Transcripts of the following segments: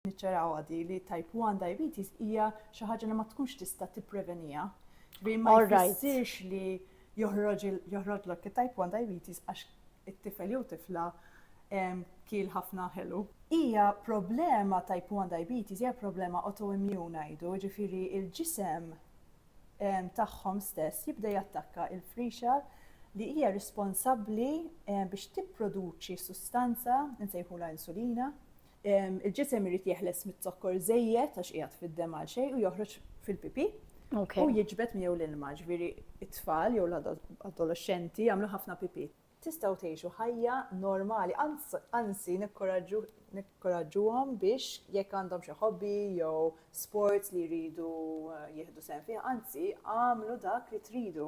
niċċarawha di li type 1 diabetes hija xi ħaġa li ma tkunx tista' tipprevenija. Ġifieri ma jfissirx li joħroġlok it-type 1 diabetes għax it-tifel jew tifla kiel ħafna ħelu. Hija problema type 1 diabetes hija problema autoimmune ngħidu, ġifieri il-ġisem tagħhom stess jibda jattakka il-frixa li hija responsabbli biex tipproduċi sustanza nsejħula insulina Il-ġisem irid jeħles mit-zokkor żejjed għax qiegħed fid-dem għal xejn u joħroġ fil-pipi. U jiġbed miegħu l-ilma, ġifieri it-tfal jew l-adolexxenti jagħmlu ħafna pipi. Tistgħu tgħixu ħajja normali, anzi nikkoraġġuhom biex jekk għandhom xi hobby jew sports li jridu jieħdu sehem fih, anzi għamlu dak li tridu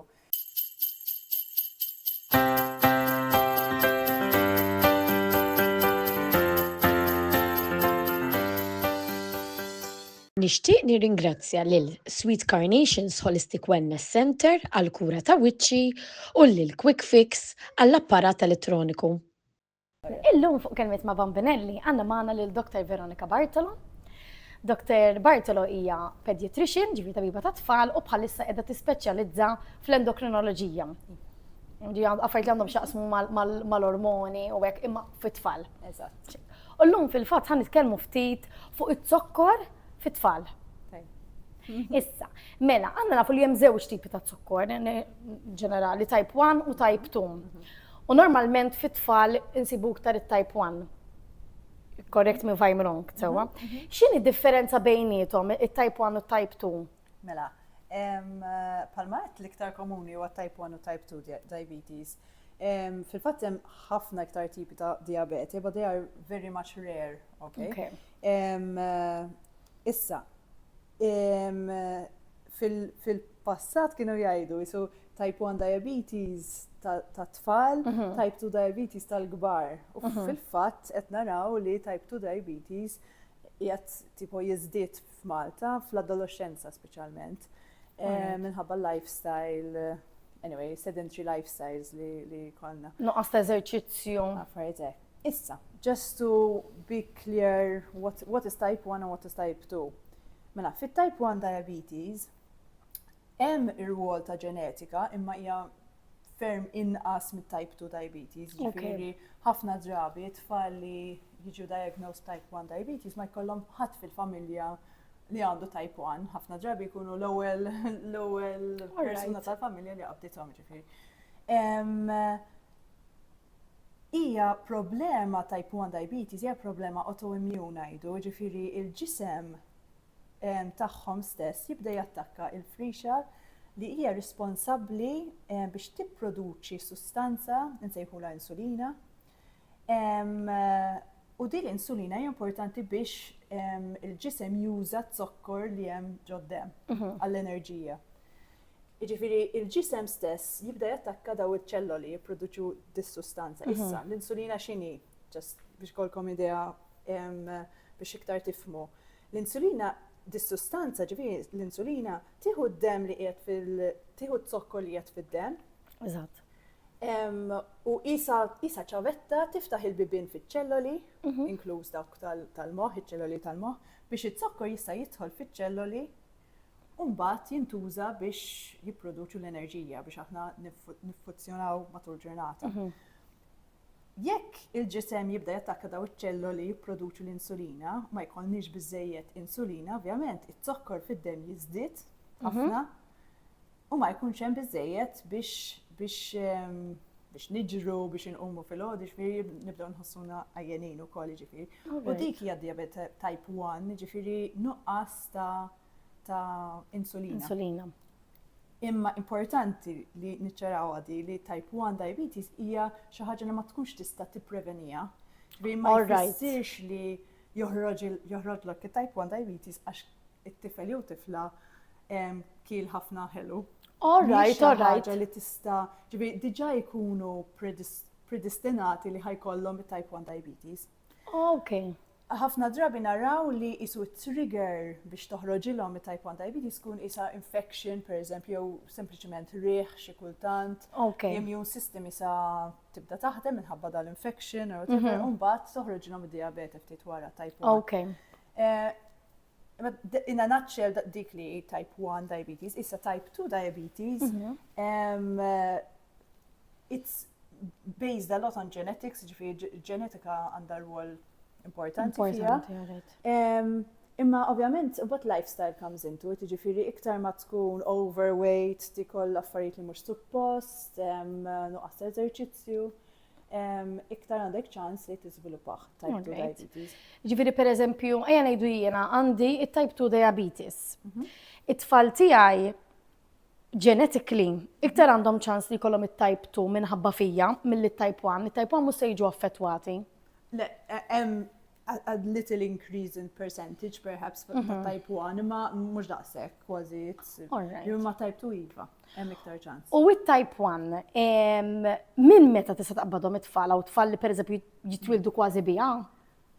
Nixtieq nirringrazzja lil Sweet Carnations Holistic Wellness Centre għall-kura ta' wiċċi u lil Quick Fix għall-apparat elettroniku. Illum fuq Kelmiet ma' Bambinelli għandna magħna lil Dr. Veronika Bartolo. Dr. Bartolo hija pediatrician, ġifieri tabiba tat-tfal u bħalissa qiegħda tispeċjalizza fl-endokrinoloġija. Affarijiet li għandhom x'jaqsmu mal-ormoni u hekk imma fit-tfal. Eżatt. U llum fil-fatt ħa nitkellmu ftit fuq iz-zokkor fit-tfal. Issa, mela, għandna nafu li hemm żewġ tipi ta' zokkor ġenerali, type 1 u type 2. U normalment fit-tfal insibu iktar it-type 1. Correct me if I'm wrong, sewwa. X'inhi d-differenza bejniethom, it-type 1 u t-type 2? Mela, bħalma qed l-iktar komuni huwa type 1 u type 2 diabetes. Fil-fatt hemm ħafna iktar tipi ta' diabete, but they are very much rare, okay? Issa, Fil-passat kienu jgħidu jisu type 1 diabetes tat-tfal, mhm. type 2 diabetes tal-kbar. U mhm. fil-fatt qed naraw li type 2 diabetes jgħat tipo jizdit f'Malta fl-adolescenza speċjalment eh, minħabba lifestyle anyway, sedentary lifestyles li, li konna. Nuqqas ta' eżerċizzju. Affaritek. Issa, just to be clear what, what is type 1 and what is type 2. Mela, fit type 1 diabetes, hemm ir-rwol ta' ġenetika imma hija ferm inqas mit type 2 diabetes. Ġifieri ħafna drabi tfal li jiġu diagnosed type 1 diabetes ma jkollhom ħadd fil-familja li għandu type 1, ħafna drabi jkunu l-ewwel l-ewwel persuna tal-familja li qabdithom ġifieri. Hija problema type one diabetes hija problema autoimmune ngħidu, jiġifieri l-ġisem tagħhom stess jibda jattakka l-frixa li hija responsabbli biex tipproduċi sustanza li nsejħulha insulina u din l-insulina hija importanti biex il-ġisem juża z-zokkor li hemm ġod-demm għall-enerġija. Jiġifieri l-ġisem stess jibda jattakka daw iċ-ċelloli li jipproduċu dis-sustanza. Mhm. Issa, l-insulina x'inhi? Ġust biex ikollkom idea biex iktar tifhmu. L-insulina dis-sustanza ġifieri l-insulina tieħu d-demm li qiegħed fil tieħu t-zokkor li qiegħed fid-demm. Eżatt. U isa ċavetta tiftaħ il-bibien fiċ-ċelloli, mhm. inkluż dawk tal-moħħ, iċ-ċelloli tal-moħħ, biex iz-zokkor jista' jidħol fiċ-ċelloli u mbagħad jintuża biex jipproduċu l-enerġija biex aħna niffuzzjonaw matul ġurnata. Mhm. Jekk il-ġisem jibda jattakka daw iċ-ċelloli jipproduċu l-insulina, ma jkollniex biżejjed insulina, ovvjament it-zokkor fid-dem jiżdied mhm. ħafna. u ma jkunx hemm biżżejjed biex biex biex niġru, biex inqumu fil-ħodu, ġifiri nibdew nħossuna għajjenin u koll ġifiri. U dik hija diabet type 1, ġifiri nuqqas ta' ta' insulina. Insulina. Imma importanti li niċċaraw għadi li type 1 diabetes hija xi ħaġa li ma tkunx tista' tipprevenija. Ġifiri ma jfissirx li joħroġlok it-type 1 diabetes għax it-tifel jew tifla kiel ħafna ħelu. All right, all right. li tista, ġibi, diġa jkunu predestinati li ħajkollhom it-type 1 diabetes. Ok. Ħafna drabi naraw li isu trigger biex toħroġilhom it-type 1 diabetes kun isa infection, per eżempju, jew sempliċement riħ xi kultant. Ok. Immune system isa tibda taħdem minħabba dal-infection or whatever, Mhm. u mbagħad toħroġilhom id-diabete ftit wara type 1. Ok. Eh, imma d- In a nutshell da- dik li hi type 1 diabetes, issa type 2 diabetes, Mhm. um, eh, it's based a lot on genetics, ġifieri ġ- ġenetika għandha rwol importanti fiha. Imma ovvjament, but lifestyle comes into it, ġifiri iktar ma tkun overweight, ti koll affarijiet li mhux suppost, nuqqas eżerċizzju iktar għandek ċans li tiżviluppaħ type 2 diabetes. Ġifiri per eżempju, ejja ngħidu jiena għandi it-type 2 diabetes. Mhm. It-tfal tiegħi genetically iktar għandhom ċans li jkollhom it-type 2 minħabba fija milli t-type 1, it-type 1 mhux se jiġu affettwati. Le, hemm a little increase in percentage perhaps ta' mhm. type 1, imma mhux daqshekk kważi imma type 2 iva, hemm iktar ċans. U it-type 1, minn meta tista' taqbadhom it-tfal u tfal li pereżempju jitwildu kważi biha?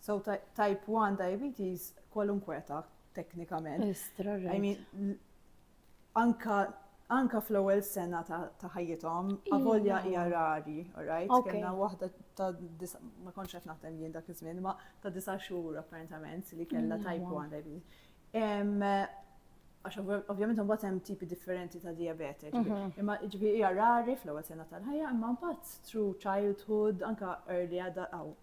So type 1 diabetes kwalunkwe ta' teknikament. I mean, Anka anka fl-ewwel sena ta', ta ħajjithom, avolja hija rari, alright? Okay. Kellna waħda ta' disa, ma kontx qed naħdem jien dak iż-żmien, ma ta' disa' xhur apparentament li kellha type 1 diabetes. Em, għax ovv- ovvjament imbagħad hemm tipi differenti ta' diabete, ġifieri. imma ġifieri hija rari fl-ewwel sena tal-ħajja, imma mbagħad through childhood, anka early adult, aw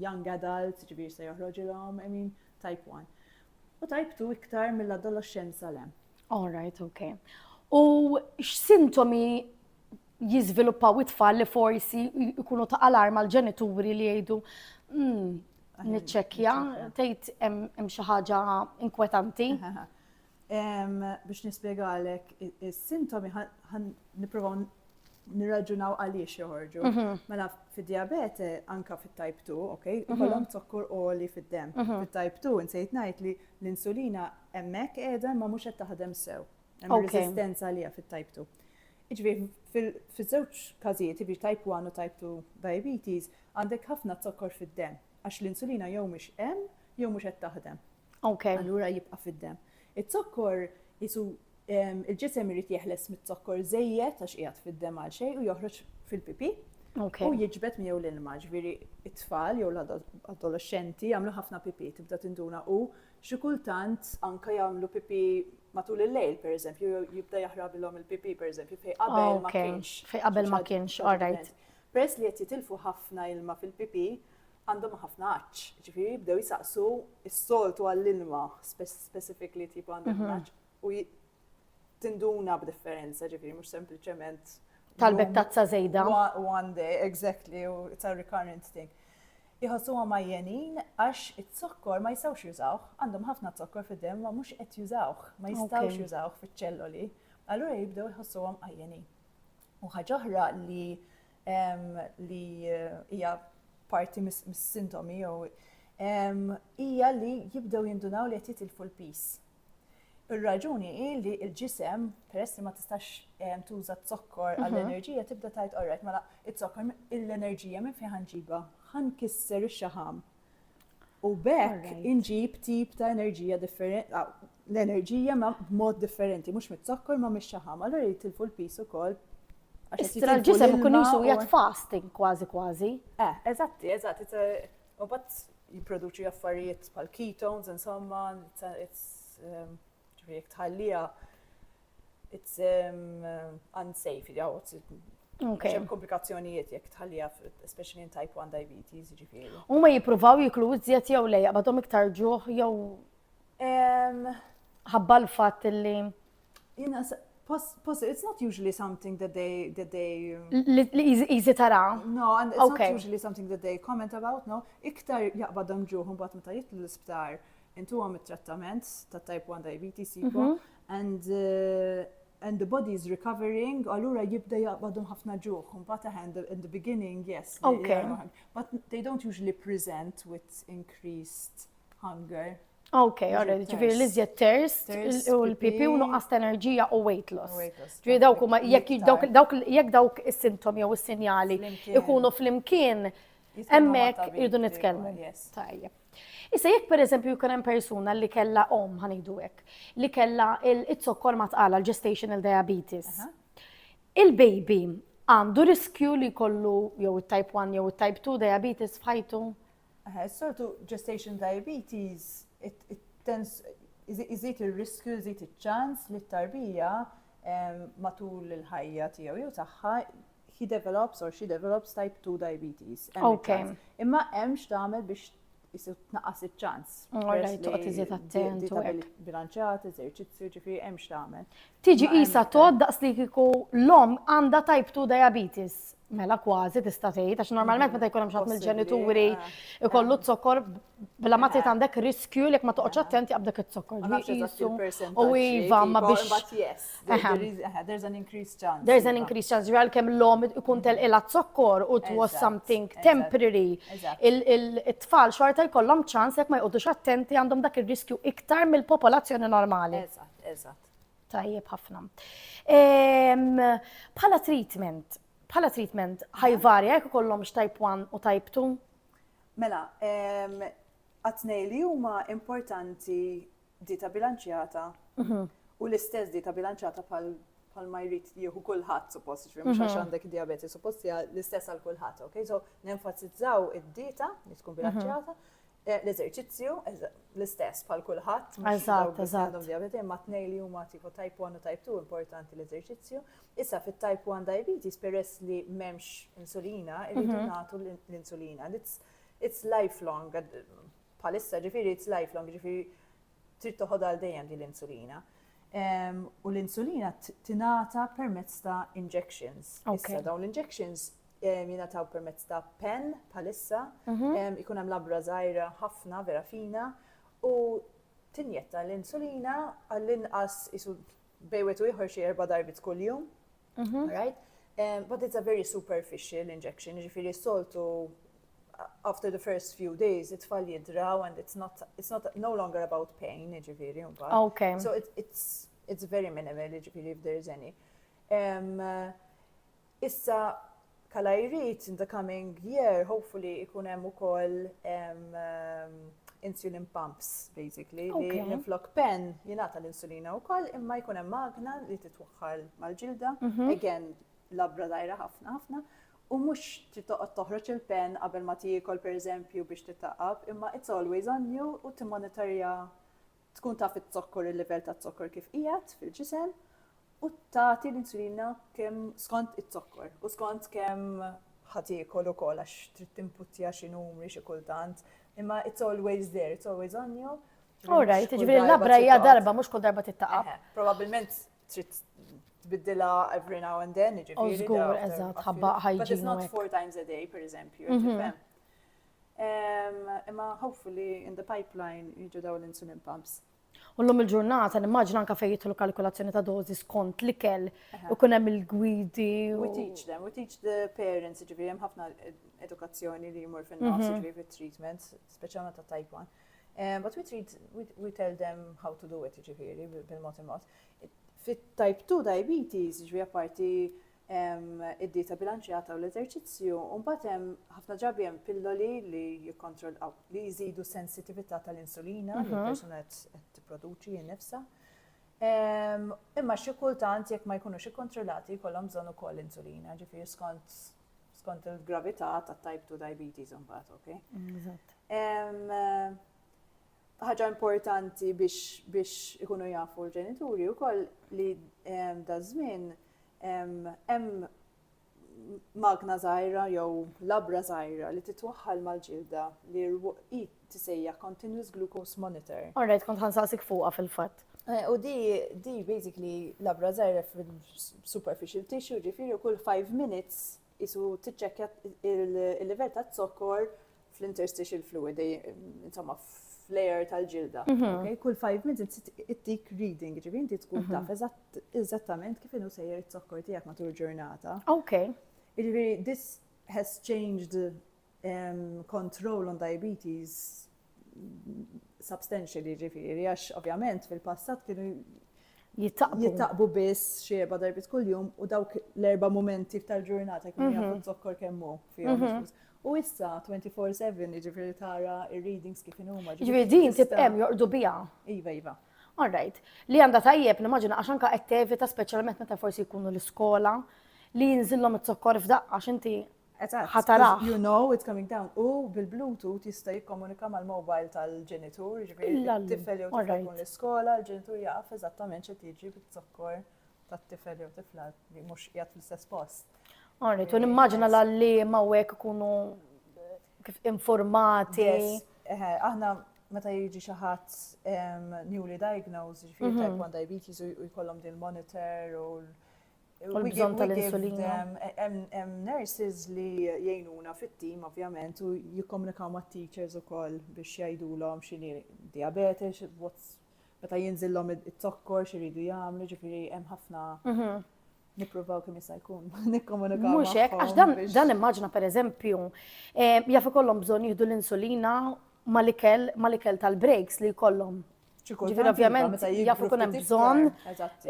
young adult, ġifieri se joħroġilhom, I mean, type 1. U tajbtu iktar mill-adoloxxenza le. All right, ok. U x'sintomi jiżviluppaw it-tfal li forsi jkunu ta' alarm għal ġenituri li jgħidu hmm, niċċekkja, tgħid hemm xi ħaġa inkwetanti. Biex nispjegalek is-sintomi nipprovaw nirraġunaw għaliex joħorġu. Mhm. Mela fid-diabete anka fit-type 2, ok, mhm. ikollhom zokkur oli fid-dem. Mhm. Fit-type 2 insejt ngħid li l-insulina hemmhekk qiegħda ma mhux qed taħdem sew. Hemm resistenza għalija fit-type 2. Iġbi, fiż-żewġ każijiet, iġbi type 1 u type 2 diabetes, għandek ħafna zokkor fid-dem, għax l-insulina jew mhux hemm jew mhux qed taħdem. Okay. Allura jibqa' fid-dem. Iz-zokkor jisu il-ġisem irid jeħles mit-zokkor żejjed għax qiegħed fid-dem għal xejn u joħroġ fil-pipi. Okay. U jiġbed miegħu l-ilma, ġifieri it-tfal jew l-adolescenti jagħmlu ħafna pipi, tibda tinduna u xi kultant anke jagħmlu pipi matul il-lejl, per eżempju, jibda jaħrabilhom il-pipi, per eżempju, fej qabel ma kienx. Fej qabel ma kienx, all right. Peress li qed jitilfu ħafna ilma fil-pipi, għandhom ħafna għaċ, ġifiri jibdew jisaqsu s-soltu għall-ilma specific li tipu għandhom mhm. għaċ u tinduna b'differenza ġifiri mux sempliciment tal-bek tazza zejda. One day, exactly, u it's a recurrent thing. Jħossu ma jenin għax it-zokkor ma jistawx jużawh, għandhom ħafna zokkor fid-dem ma mux qed jużawh, ma jistawx jużawh fiċ-ċelloli. Allura jibdew jħossu għam għajjenin. U ħagħuħra li li hija parti mis-sintomi jew hija li jibdew jindunaw li qed jitilfu l-pis. Ir-raġuni hi li l-ġisem, peress li ma tistax tuża t-zokkor mhm. għall-enerġija, tibda tajt orrek, mela it-zokkor l-enerġija minn fejn ħanġiba, ħankisser ix-xaħam, U b'hekk inġib tip ta' enerġija differenti, l-enerġija ma' b'mod differenti, mhux mit-zokkor ma' mix-xaħam, allura jitilfu l-pis ukoll Istra l-ġisem ikun jisu jgħat fasting kważi kważi. Eh, eżatti, eżatti. U bat jiproduċi affarijiet pal ketones, insomma, it's um, Ġifieri jekk tħalliha it's unsafe, hemm komplikazzjonijiet jekk tħalliha especially in type 1 diabetes, ġifieri. Huma jippruvaw jiklu iżjed jew le jaqbadhom iktar ġuħ jew ħabba l-fatt li It's not usually something that they that they easy tara. No, and it's okay. not usually something that they comment about, no. Iktar jaqbadhom ġuħ imbagħad meta jitlu l-isptar intuhom it-trattament ta' type 1 diabetes sipo mhm. and uh, and the body is recovering, allura jibda jaqbadhom ħafna ġuħ. Mbagħad aħend in the beginning, yes. Okay. But they don't usually present with increased hunger. Ok, għarri, ġifiri li zjed terst u l-pipi u nuqqas enerġija u weight loss. Ġifiri dawk ma jekk dawk is-sintomi jew is-sinjali ikunu fl-imkien, emmek irdu nitkellmu. Tajjeb. Issa jekk pereżempju jkun hemm persuna li kellha omm ħa ngħidu hekk, li kellha il-zokkor ma tqala l-gestational diabetes. Il-baby għandu riskju li jkollu jew it-type 1 jew it-type 2 diabetes f'ħajtu? Sortu gestation diabetes iżid ir-riskju, iżid iċ-ċans li t-tarbija matul il-ħajja tiegħu jew tagħha he develops or she develops type 2 diabetes. Okay. Imma hemm x'tagħmel biex jisir tnaqqas iċ-ċans. Għarra jtuqqa tiżiet attent. Bilanċat, eżerċizzju, ġifri, hemm x'tagħmel. Tiġi isa tod daqs li kiku l-om għandha type 2 diabetes. Mela kważi tista' tgħid għax normalment meta jkun hemm xatt mill-ġenituri ikollu zokkor Bla ma trid għandek riskju li ma toqgħodx attent jaqbdek iż-zokkor. U iva ma biex. There's an increased chance. There's an increased chance. Ġral kemm l-om ikun telqila zokkor u it was something temporary. Il-tfal xorta jkollhom ċans jekk ma jqogħdux attenti għandhom dak ir-riskju iktar mill-popolazzjoni normali. Eżatt, eżatt. Tajjeb ħafna. Bħala treatment, bħala treatment ħajvarja jekk ikollhom type 1 u type 2? Mela, għat-tnejn li huma importanti dieta bilanċjata u l-istess dieta bilanċjata bħal bħal ma jrid jieħu kulħadd suppost, ġifieri mhux għax mhm. għandek diabeti suppost hija l-istess għal kulħadd, ok? So nenfasizzaw id-dieta li tkun mhm. bilanċjata, eh, l-eżerċizzju l-istess bħal kulħadd, eżatt, eżatt. Diabeti imma tnej li huma tipo type 1 u type 2 importanti l-eżerċizzju, Issa fit-type 1 diabetes peress li m'hemmx insulina, irridu nagħtu l-insulina. It's lifelong, bħalissa ġifieri it's lifelong, ġifieri trid toħod għal dejjem din l-insulina. U l-insulina tingħata permezz ta' injections. Issa dawn l-injections jingħataw permezz ta' pen bħalissa, mhm. ikun hemm labra żgħira ħafna vera fina u tinjetta l-insulina għall-inqas isu bej wieħed u ieħor xi erba' darbit kuljum. Mhm. Right? Um, but it's a very superficial injection, ġifiri soltu after the first few days it-tfal jidraw and it's not, it's not no longer about pain, ġifiri. Okay. So it, it's, it's very minimal, ġifiri if there is any. Um, Issa bħala jrid in the coming year hopefully ikun hemm ukoll insulin pumps basically li minflok pen jingħata l-insulina wkoll imma jkun hemm magna li titwaħħal mal-ġilda mhm. again labra dajra ħafna ħafna u mhux titoqgħod toħroġ il-pen qabel ma tiekol pereżempju biex titaqab imma it's always on you u timmonitorja Tkun taf iz-zokkor il-livell taz-zokkor kif qiegħed fil-ġisem u tagħti l-insulina kemm skont iz-zokkor u skont kemm ħa tiekol ukoll għax trid tinputja xi numri xi kultant imma it's always there, it's always on you. All right, ġifieri l-labra hija darba mhux kull darba tittaqab. Probabbilment trid tbiddilha every now and then, ġifieri. Żgur, eżatt, ħabba ħajġi. But it's not four times a day, per eżempju, mhm. tifhem? Imma hopefully in the pipeline jiġu daw l-insulin pumps. U l-lum il-ġurnata, nimmaġina anka fejn jitlu kalkulazzjoni ta' dozi skont li kell, u kunem il-gwidi. We teach them, we teach the parents, ġivri, jem ħafna edukazzjoni li jmur fin-nofs, mhm. ġivri, treatment, speċjalment ta' type 1. Eh, but we treat, we, we tell them how to do it, ġiviri, bil-mod il-mod. Fit-type 2 diabetes, ġiviri, apparti hemm id-dieta bilanċjata u l-eżerċizzju, u mbagħad hemm ħafna drabi hemm pilloli li jikkontrollaw li jżidu sensitività tal-insulina li mhm. persuna qed tipproduċi nnifsha. Ehm, imma xi kultant jekk ma jkunux ikkontrollati jkollhom bżonn ukoll insulina, ġifieri skont skont il-gravità ta' type 2 diabetes imbagħad, ok? Eżatt. Ehm, ħaġa importanti biex ikunu jafu l-ġenituri wkoll li ehm, da żmien Hemm magna żgħira jew labra żgħira li titwaħħal mal-ġilda li hi tisejjaħ continuous glucose monitor. All right, kont ħansaqsik fuqha fil-fatt. Eh, u di, di basically labra żgħira fil-superficial tissue, ġifieri kull 5 minutes qisu tiċċekkja l-livell ta' zokkor fl-interstitial fluid, insomma fl-air tal-ġilda. Mhm. Kull 5 minutes ittik reading, ġivi inti tkun mhm. taf eżattament kif inhu sejjer it-zokkor tiegħek matul ġurnata. Ok. Ġivi, this has changed um, control on diabetes substantially ġifiri, għax ovvjament fil-passat kienu jittaqbu biss xieba darbit kull-jum u dawk l-erba momenti tal-ġurnata kienu mhm. jafu zokkor kemmu fihom. Mhm. U issa 24-7 ġifiri tara il-readings kif inhuma. Ġifiri din tibqem jorqdu bija. Iva, iva. Alright. Li għanda tajjeb, nimmaġina għax anka qed tevita speċjalment meta forsi jkunu l-iskola li jinżillhom it-zokkor f'daqqa x'inti Ħatarah. You know it's coming down. U bil-Bluetooth jista' jikkomunika mal-mobile tal-ġenitur, jiġifieri t-tifel jew tifla jkun l-iskola, l-ġenitur jaf eżattament x'qed jiġri biż-zokkor tat-tifel jew tifla li mhux qiegħed fl-istess post. Għarri, tu nimmaġina l-għalli ma' wek ikunu kif informati. Aħna meta jiġi xi ħadd newly diagnosed, jiġifieri mhm. type 1 diabetes u jkollhom din monitor u U l-bżonn tal-insulina. Hemm nurses li jgħinuna fit-tim ovvjament u jikkomunikaw mat-teachers ukoll biex jgħidulhom x'inhi diabetes, meta jinżillhom it-zokkor x'iridu jagħmlu, ġifieri hemm ħafna mhm. Nippruvaw kemm jista' jkun, nikkomunikaw. Mhux hekk, għax dan dan immaġna pereżempju, eh, jaf ikollhom bżonn jieħdu l-insulina mal-ikel mal-ikel tal-breaks li jkollhom. Ġifieri ovvjament jaf ikun hemm bżonn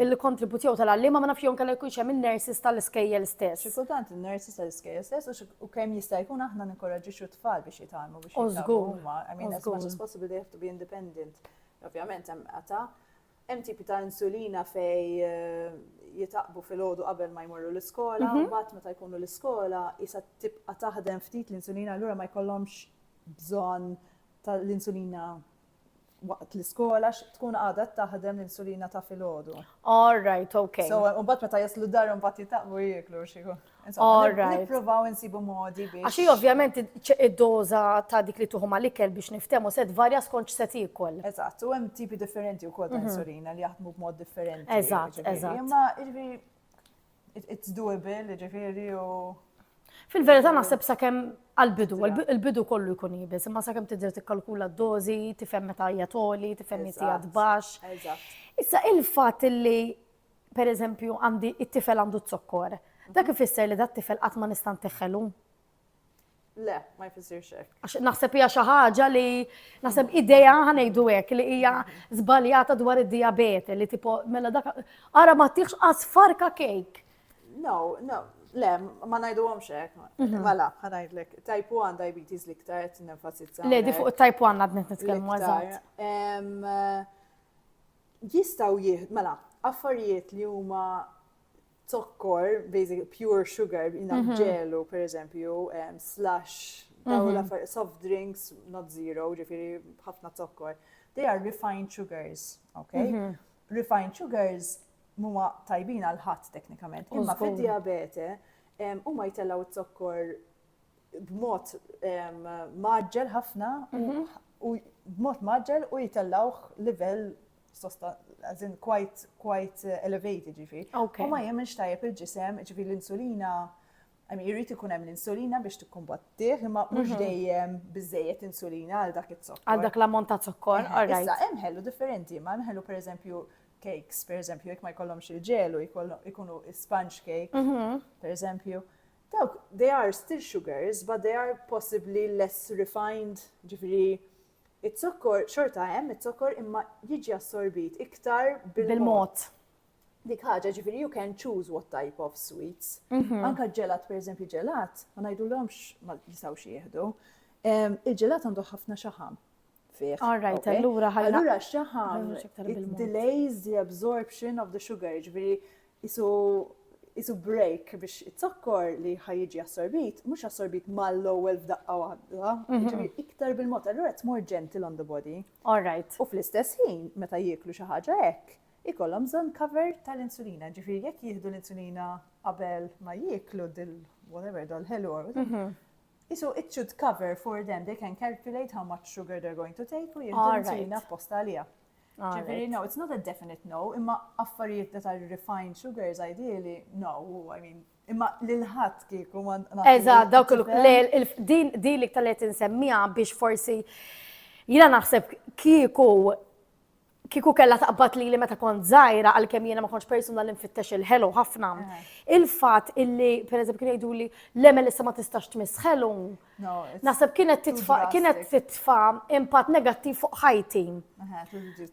il-kontribut jew tal-għalliema ma nafx jew inkella jkunx hemm in-nurses tal-iskejjel stess. Xi kultant in-nurses tal-iskejjel stess u kemm jista' jkun aħna ninkoraġġixxu t-tfal biex jitgħallmu biex jitgħallmu huma. I mean as much as possible they have to be independent. Ovvjament hemm qata' hemm tipi ta' insulina fej eh, jitaqbu fil-ħodu qabel ma jmorru l-iskola, mhm. u mbagħad meta jkunu l-iskola jisa tibqa' taħdem ftit l-insulina allura ma jkollhomx bżonn tal-insulina waqt l-iskola x tkun għadha taħdem l-insulina ta' filgħodu. All right, okay. So, u bat meta jaslu dar un bat jitaqbu jieklu xiku. All right. Nipprovaw insibu modi biex. Għaxi ovvjament id-doza ta' dik li tuħu mal-ikel biex niftemu set varja skont set ikol. Eżatt, u hemm tipi differenti wkoll ta' mhm. insulina li jaħdmu b'mod differenti. Eżatt, eżatt. Imma it's doable, ġifiri u. Fil-verità naħseb sakemm għal-bidu, il-bidu kollu jkun jibis, imma sakemm tidher tikkalkula d-dożi, tifhem meta hija toli, tifhem meta hija tbax. Issa il-fatt li pereżempju għandi it-tifel għandu t-zokkor, dak ifisser li dat tifel qatt ma nista' ntiħħelu. Le, ma jfissirx hekk. Għax naħseb hija xi ħaġa li naħseb idea ħanejdu hekk li hija żbaljata dwar id-diabete li tipo mela dak ara ma tieħx qas farka kejk. No, no, le, ma ngħiduhomx hekk. Mhm. Mela, ħanajdlek, type 1 diabetes li iktar qed nenfasizza. Le, di fuq it-type 1 għadnet nitkellmu eżatt. Jistgħu jieħdu, mela, affarijiet li huma zokkor, basically pure sugar, jina mhm. ġelu, per eżempju, slash, daw mhm. la soft drinks, not zero, ġifiri ħafna zokkor. They are refined sugars, ok? Mhm. Refined sugars muma tajbin għal ħadd teknikament. Imma fid-diabete, huma jtellaw zokkor b'mod maġġel ħafna u b'mod maġġel u jtellawh livell sosta, as in quite, quite elevated ġifi. U ma jemmenx tajjeb il-ġisem, ġifi l-insulina, għami jirrit ikun hemm l-insulina biex tikkumbattih, imma mhux mhm. dejjem biżejjed insulina għal dak it-zokkor. Għal dak l-ammont ta' zokkor, għarrajt. Issa, hemm ħellu differenti, ma hemm ħellu per eżempju cakes, per eżempju, jek ma jkollhomx il-ġelu, jkunu sponge cake, mhm. per eżempju. Dawk, they are still sugars, but they are possibly less refined, ġifiri, Iz-zokkor, xorta hemm iz-zokkor imma jiġi assorbit iktar bil-mod. Dik ħaġa, ġifieri you can choose what type of sweets. Anka ġelat, pereżempju ġelat, ma ngħidulhomx ma jistgħux jieħdu. Il-ġelat għandu ħafna xaħam fih. All right, allura ħalli. Allura xaħam delays the absorption of the sugar, ġifieri qisu qisu break biex it-zokkor li ħaj jiġi assorbit, mhux assorbit mal-ewwel f'daqqa waħda, mhm. jiġifieri iktar bil-mod, allura it's more gentle on the body. All right. U fl-istess ħin, meta jieklu xi ħaġa hekk, ikollhom bżonn cover tal-insulina, ġifiri jekk jieħdu l-insulina qabel ma jieklu dil whatever dal-ħelu mhm. Qisu it should cover for them, they can calculate how much sugar they're going to take u jieħdu insulina apposta għalija. Ġifieri, no, it's not a definite no, imma affarijiet ta' refined sugars ideally, no, I mean, imma l-ħat kieku ma. Eża, dawk il-din li ktalet insemmija biex forsi jina naħseb kieku kieku kellha taqbad lili meta kont żgħira għalkemm jiena ma kontx persuna li nfittex il-ħelu ħafna. Eh. Il-fatt illi pereżempju kien jgħiduli l-emel issa ma tistax tmiss ħelu. Naħseb kienet titfa' kienet titfa' impatt negattiv fuq ħajti.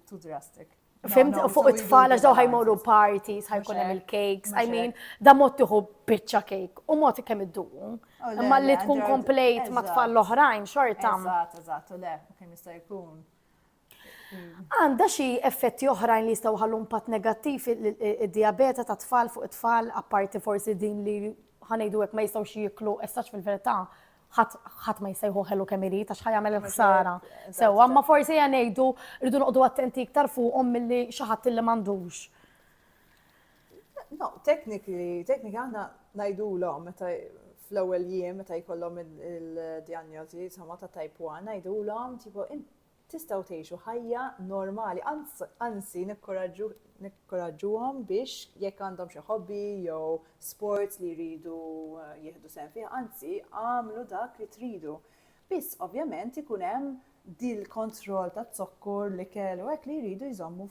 Tu drastik. Fimt fuq it-tfal għax daw ħajmorru parties, ħajkun hemm il-cakes, I mean, da mod tieħu biċċa cake u mod kemm iddu. Oh, Imma li tkun komplejt ma' tfal l-oħrajn xorta. Eżatt, eżatt, u le, kemm jista' jkun. Għandha xi effetti oħrajn li jistgħu ħallu impatt negattiv id-diabeta ta' tfal fuq it-tfal, apparti forsi din li ħanejdu hekk ma jistgħux jieklu essax fil-verità ħadd ma jsejħu ħelu kemm irid għax ħajamel il-ħsara. Sewa, ma forsi ngħidu rridu noqogħdu attenti iktar fuqhom milli xi ħadd li m'għandux. No, tekniki, tekniki għandna ngħidulhom meta fl-ewwel jiem meta jkollhom il-dijanjosi sama ta' type 1 ngħidulhom tipo Tistgħu tgħixu ħajja normali, anz, anzi nikkoraġġu, nikkoraġġuhom biex jekk għandhom xi hobby jew sports li jridu jieħdu sehem fih, anzi agħmlu dak li tridu. Biss ovvjament ikun hemm dil-kontroll taz-zokkor, l-ikel u hekk li jridu jżommu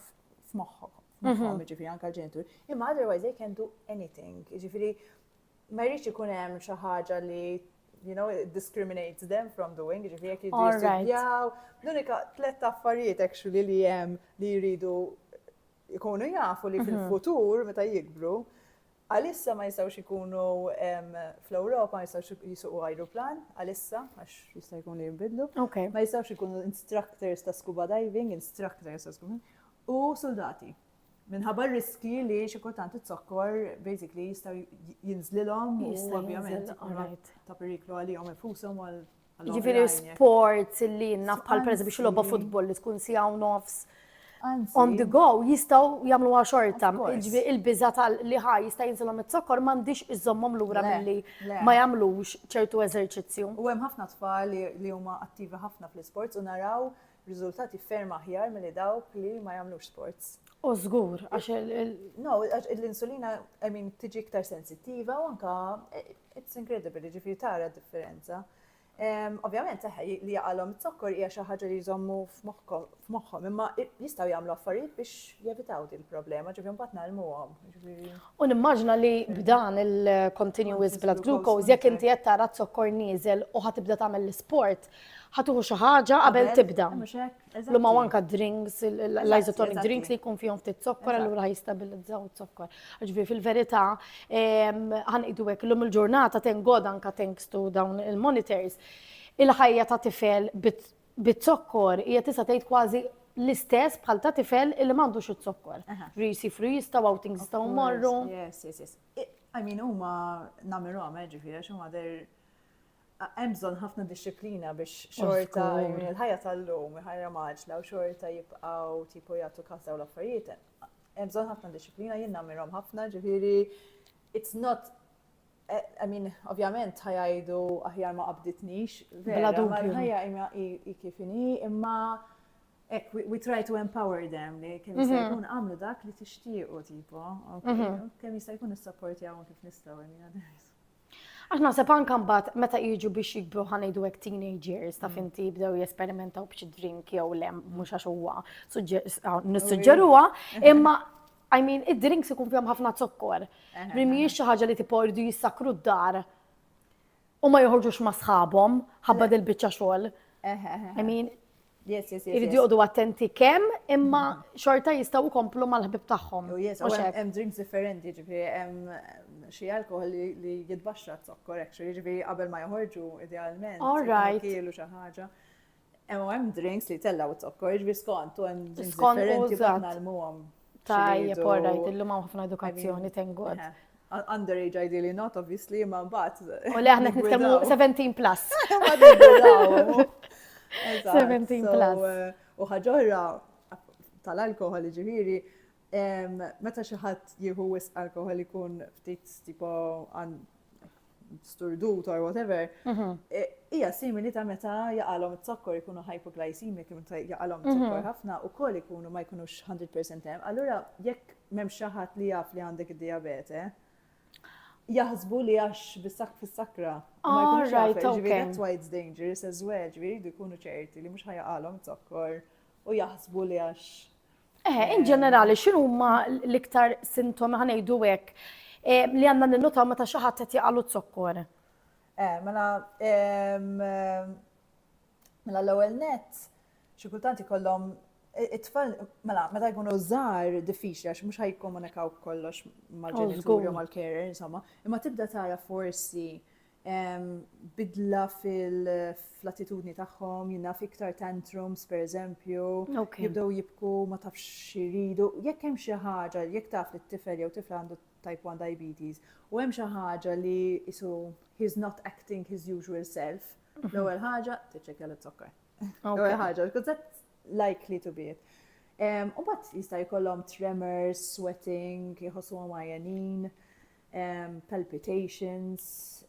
f'moħħhom, f'moħħhom, jiġifieri anke l-ġenituri. Imma otherwise they can do anything, jiġifieri ma jridx ikun hemm xi ħaġa li you know, it discriminates them from doing, ġifri jek jiddu jistudjaw. L-unika tlet affarijiet actually li jem li jridu jkunu jafu li mhm. fil-futur meta jikbru, għalissa ma jistawx ikunu fl-Europa, ma jistawx jisuqu aeroplan, għalissa, għax jista' jkun li jimbidlu. Ma jistawx ikunu instructors ta' scuba diving, instructors ta' scuba u soldati. Minħabba r-riskji li xi kultant it-zokkor basically jistgħu jinżlilhom u ovvjament ta' periklu għalihom infushom għal Ġifieri sports li jinnaf bħal pereżempju biex logħba futbol li tkun siegħu nofs on the go jistgħu jagħmlu xorta. Ġifieri il-biża li ħa jista' jinżilhom it-zokkor m'għandix iżommhom lura milli ma jagħmlux ċertu eżerċizzju. U hemm ħafna tfal li huma attivi ħafna fl-isports u naraw Riżultati ferm aħjar milli dawk li ma jagħmlux sports. U żgur, għax il. No, l-insulina, I mean, tiġi iktar sensittiva u anka, eh, it's incredible, ġifiri tara differenza. Ovvjament, seħħa li jaqalhom it-zokkor hija xi ħaġa li jżommu f'moħħhom, imma jistgħu jagħmlu affarijiet biex jevitaw din il-problema, ġifieri mbagħad nagħlmuhom. U nimmaġna li b'dan il-continuous blood glucose jekk inti qed tara zokkor nieżel u ħad tibda tagħmel l-isport, Ħa tieħu xi ħaġa qabel tibda. Mhux hekk? Eżatt. L-huma anka drinks, il- il- Eżatt, l-isotonic eżatt. drinks li jkun fihom ftit zokkor, Eżatt. allura jistabilizzaw zokkor. Ġifieri fil-verità, em, ħanqidu hekk illum il-ġurnata thank God anka thanks to dawn il-monitors, il-ħajja ta' tifel bit- bit-zokkor hija tista' tgħid kważi l-istess bħal ta' tifel illi m'għandux iż-zokkor. Aha. Ġifieri jisifru jistgħu outings jistgħu mmorru. Yes, yes, yes. I- I mean, huma namirhom, eh, ġifieri, għax huma they're hemm bżonn ħafna dixxiplina biex xorta il-ħajja tal-lum, ħajja maġla u xorta jibqgħu tipo jagħtu kas dawn l-affarijiet. Hemm bżonn ħafna dixxiplina jien nagħmilhom ħafna, ġifieri it's not eh, I mean, ovvjament ħajajdu aħjar ma qabditnix, vera, ma ħajja imma i kif inhi, imma ek, we, we try to empower them li kemm jista' mhm. jkun għamlu dak li tixtiequ tipo, mhm. kemm jista' jkun is-support jawhom kif nistgħu, Għax naħseb anka mbagħad meta jiġu biex jikbru ħa ngħidu hekk teenage years ta' mm. finti jibdew jesperimentaw b'xi drink jew le mhux għax huwa nissuġġeruha, imma I mean, id-drinks ikun fihom ħafna zokkor. Li mhijiex xi ħaġa li tipo jridu jissakru d-dar u ma joħorġux ma' sħabhom ħabba dil-biċċa xogħol. I mean, Iridu joqdu attenti kemm, imma mm-hmm. xorta jistaw komplu mal-ħbib tagħhom. Oh, hemm drinks differenti, ġifieri hemm xi alkohol li jitbaxxa t-zokkor actually, jiġifieri qabel ma joħorġu idealment. All right. Kielu xi ħaġa. Hemm hemm drinks li tellgħu t-zokkor, jiġifieri skont u hemm drinks differenti bħal l-muhom. Tajjeb, all right, illum hawn ħafna edukazzjoni tengu. Underage ideally not, obviously, imma mbagħad. U le aħna qed nitkellmu 17 plus. 17 plus. Eh, u ħaġorra tal-alkohol ġifieri, meta xi ħadd jieħu wisq alkohol ikun ftit tipo sturdut or whatever, mhm. e, hija simili ta' meta jaqalhom it-zokkor ikunu hypoglycemic, meta jaqalhom it-zokkor mhm. ħafna u koll ikunu ma jkunux 100% hemm. Allura jekk m'hemm xi ħadd li jaf li għandek id-diabete, jaħsbu li għax bis-sak fis-sakra. All right, okay. That's why it's dangerous as well, ġviri jkunu ċerti li mhux ħajaqalhom zokkor u jaħsbu li għax Eħe, in ġenerali, xinu huma l-iktar sintomi ħanejdu hekk li għandna ninnotaw meta xi ħadd qed jaqalu zokkor? Eh, mela mela l-ewwel net xi kultant ikollhom it-tfal, mela, meta jkunu żgħar diffiċli għax mhux ħajkomunikaw kollox mal-ġenituri oh, u mal-carer, insomma, imma tibda tara forsi bidla fl-attitudni tagħhom, jien naf iktar tantrums pereżempju, jibdew jibku ma tafx x'iridu. Jekk hemm xi ħaġa, jekk taf li t-tifel jew tifla għandu type 1 diabetes, u hemm xi ħaġa li isu he's not acting his usual self, mhm. l-ewwel ħaġa tiċċekkja l-zokkar. L-ewwel ħaġa, because that's likely to be it. U bat jista' jkollhom tremors, sweating, jħossu għamajanin. palpitations,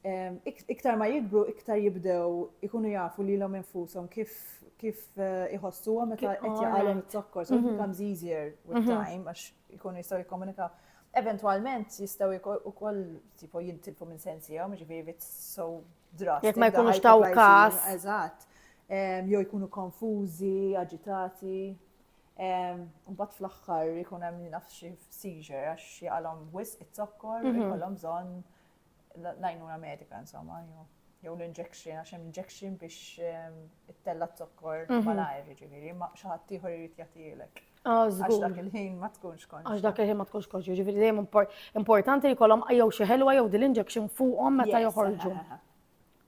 iktar ma jikbru iktar jibdew ikunu jafu lilhom infushom kif kif eh, iħossuhom meta qed jaqalhom it-zokkor, so it mhm. becomes easier with mhm. time għax ikunu jistgħu jikkomunikaw. Eventwalment jistgħu ukoll tipo jintilfu minn sensihom, ġifieri it's so drastic. Jekk ma jkunux taw każ. Eżatt. Jew jkunu konfużi, aġitati. Mbagħad fl-aħħar ikun hemm li naf xi seizure għax jaqalhom wisq it-zokkor mhm. ikollhom bżonn l-għajnuna medika insomma jew l-injection għax hemm injection biex ehm, it-tella t-zokkor mhm. malajr ġifieri ma xi ħadd ieħor irid jagħtilek. Ah, għax dak il-ħin ma tkunx konx. Għax dak il-ħin ma tkunx konx, ġifieri dejjem importanti jkollhom jew xi ħelwa jew din l-injection fuqhom meta joħorġu.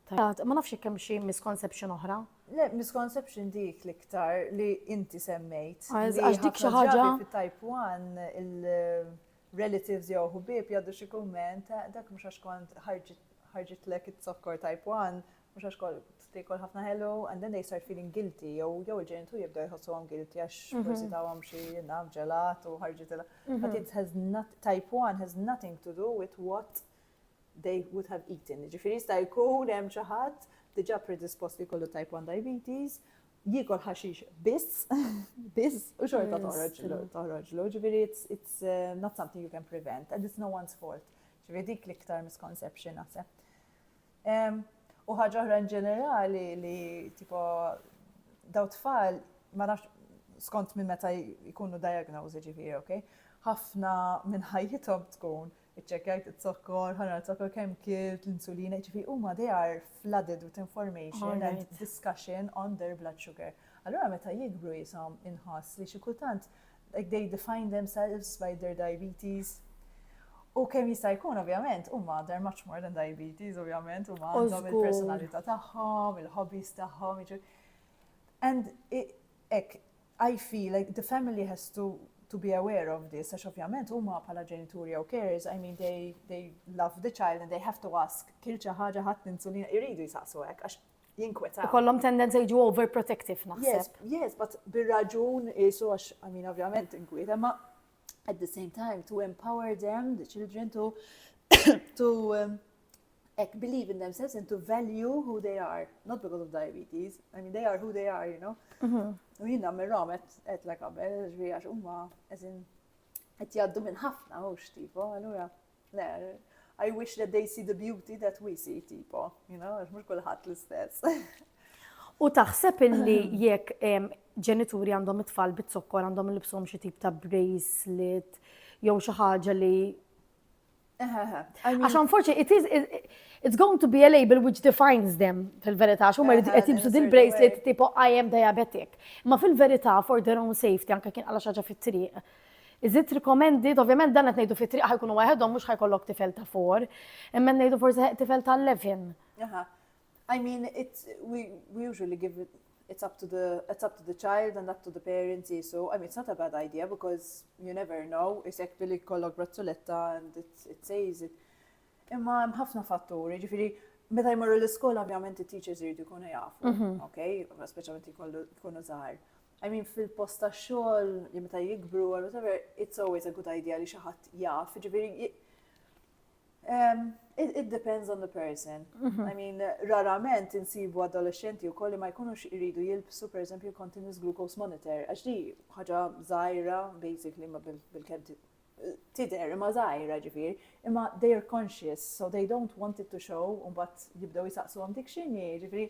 Tajjeb, ma nafx jekk hemm xi misconception oħra. Le, misconception dik l-iktar li inti semmejt. Ah, għax dik xi ħaġa. Fit-type 1 il-relatives jew ħubieb jgħaddu xi kumment, ah, dak mhux għax kont ħarġit lek it-zokkor type 1, mhux għax kont tikol ħafna ħelu, and then they start feeling guilty, jew jew il-ġenitur jibda jħossu għom guilty għax mhm. forsi ta' għom xie naf ġelat u ħarġitela. Mhm. But it has not, type 1 has nothing to do with what they would have eaten, jiġifieri jista' jkun hemm xi ħadd diġà predispost li jkollu type 1 diabetes, jiekol ħaxix biss, biss, u xorta toħroġlu. Ġifieri it's eh, not something you can prevent and it's no one's fault. Ġifieri dik l-iktar misconception naħseb. U ħaġa oħra in ġenerali li tipo daw tfal ma nafx skont minn meta jkunu diagnosi ġifieri, ok? Ħafna minn ħajjithom tkun Iċċekkjajt iz-zokkor, ħanna l-zokkor kemm kilt, l-insulina, jiġifieri huma they are flooded with information and discussion on their blood sugar. Allura meta jikbru jishom inħoss li xi kultant like they define themselves by their diabetes. U kemm jista' jkun ovvjament huma they're much more than diabetes ovvjament huma għandhom il-personalità tagħhom, il-hobbies tagħhom. And hekk I feel like the family has to to be aware of this, għax ovvjament huma bħala ġenituri jew carers, I mean they, they love the child and they have to ask, kil xi ħaġa ħadd l-insulina, iridu jisaqsu hekk għax jinkweta. Ikollhom tendenza jiġu overprotective naħseb. Yes, yes, but bir-raġun isu għax, I mean, ovvjament inkwieta, ma at the same time to empower them, the children, to, to um, like, believe in themselves and to value who they are, not because of diabetes. I mean, they are who they are, you know. Mm-hmm. U jina mirrom et la kabel, ġvi għax umma, eżin, et jaddu minn ħafna, u xtifu, għallura. I wish that they see the beauty that we see, tipo, you know, għax mux kullħat l-istess. U taħseb illi jekk ġenituri għandhom it-tfal bit-zokkor għandhom il-bsom xie tip ta' bracelet jew xi ħaġa li Għax unfortunately, it is, it, it's going to be a label which defines them fil-verità, xum għed jibsu din bracelet tipo I am diabetic. Ma fil-verità, for their own safety, anka kien għala xaġa fit-triq, Iżid rikomendi, ovvjament dan qed ngħidu fit-triq ħa jkunu waħedhom mhux ħa jkollok tifel ta' four, imma qed ngħidu forsi tifel ta' 11. Aha. I mean, it's, we, we usually give it, it's up to the, it's up to the child and up to the parents, so, I mean, it's not a bad idea because you never know, isek billi kollok brazzuletta and it, it says it. Imma hemm ħafna fatturi, ġifiri, meta jmorru l-iskola, ovvjament, il-teachers jridu jkunu jafu, mhm. ok, speċjalment jkunu zaħar. I mean fil-post ta' xogħol li meta jikbru or whatever, it's always a good idea li xi ħadd jaf, ġifieri Um, it, it depends on the person. Mm -hmm. I mean, rarament insibu adolescenti u kolli ma jkunux iridu jilbsu, per esempio, continuous glucose monitor. Għax di ħaġa zaħira, basically, ma bil-kem tider, ma zaħira ġifir, imma they are conscious, so they don't want it to show, un bat jibdaw jisaqsu għam dik xini, ġifiri,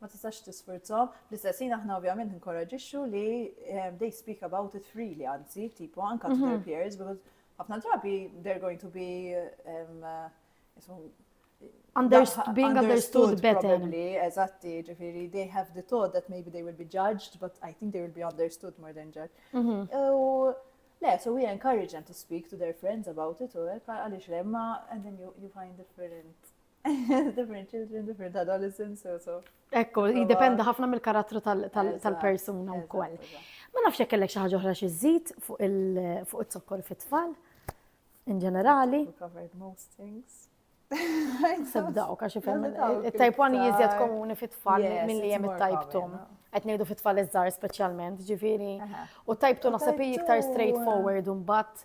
ma tistax tisfurzhom. Fl-istess ħin aħna ovvjament inkoraġixxu li ehm, they speak about it freely anzi, tipo anka to their mhm. peers because ħafna drabi they're going to be ehm, being understood better. Probably, eżatti, ġifiri, they have the thought that maybe they will be judged, but I think they will be understood more than judged. Mhm. U, le, so we encourage them to speak to their friends about it, u għalix le, ma, and then you, you find different Different children, different adolescents, so so. Ekku, jidependa ħafna mill-karattru tal-persuna u koll. Ma nafx jekk kellek xi ħaġa oħra xi żid fuq il-zokkor fit-tfal in ġenerali. Covered most things. Sebdaw, kaxi fem. Il-type 1 jizjed komuni fit-tfal mill-li jem il-type 2. Għet nejdu fit-tfal iż-żar specialment, ġifiri. U type 2 nasab iktar straightforward un bat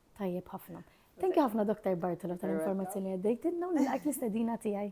Tajjeb ħafna. Thank you ħafna Dr. Bartolo tal-informazzjoni li għaddejtilna u nilqak l-istedina tiegħi.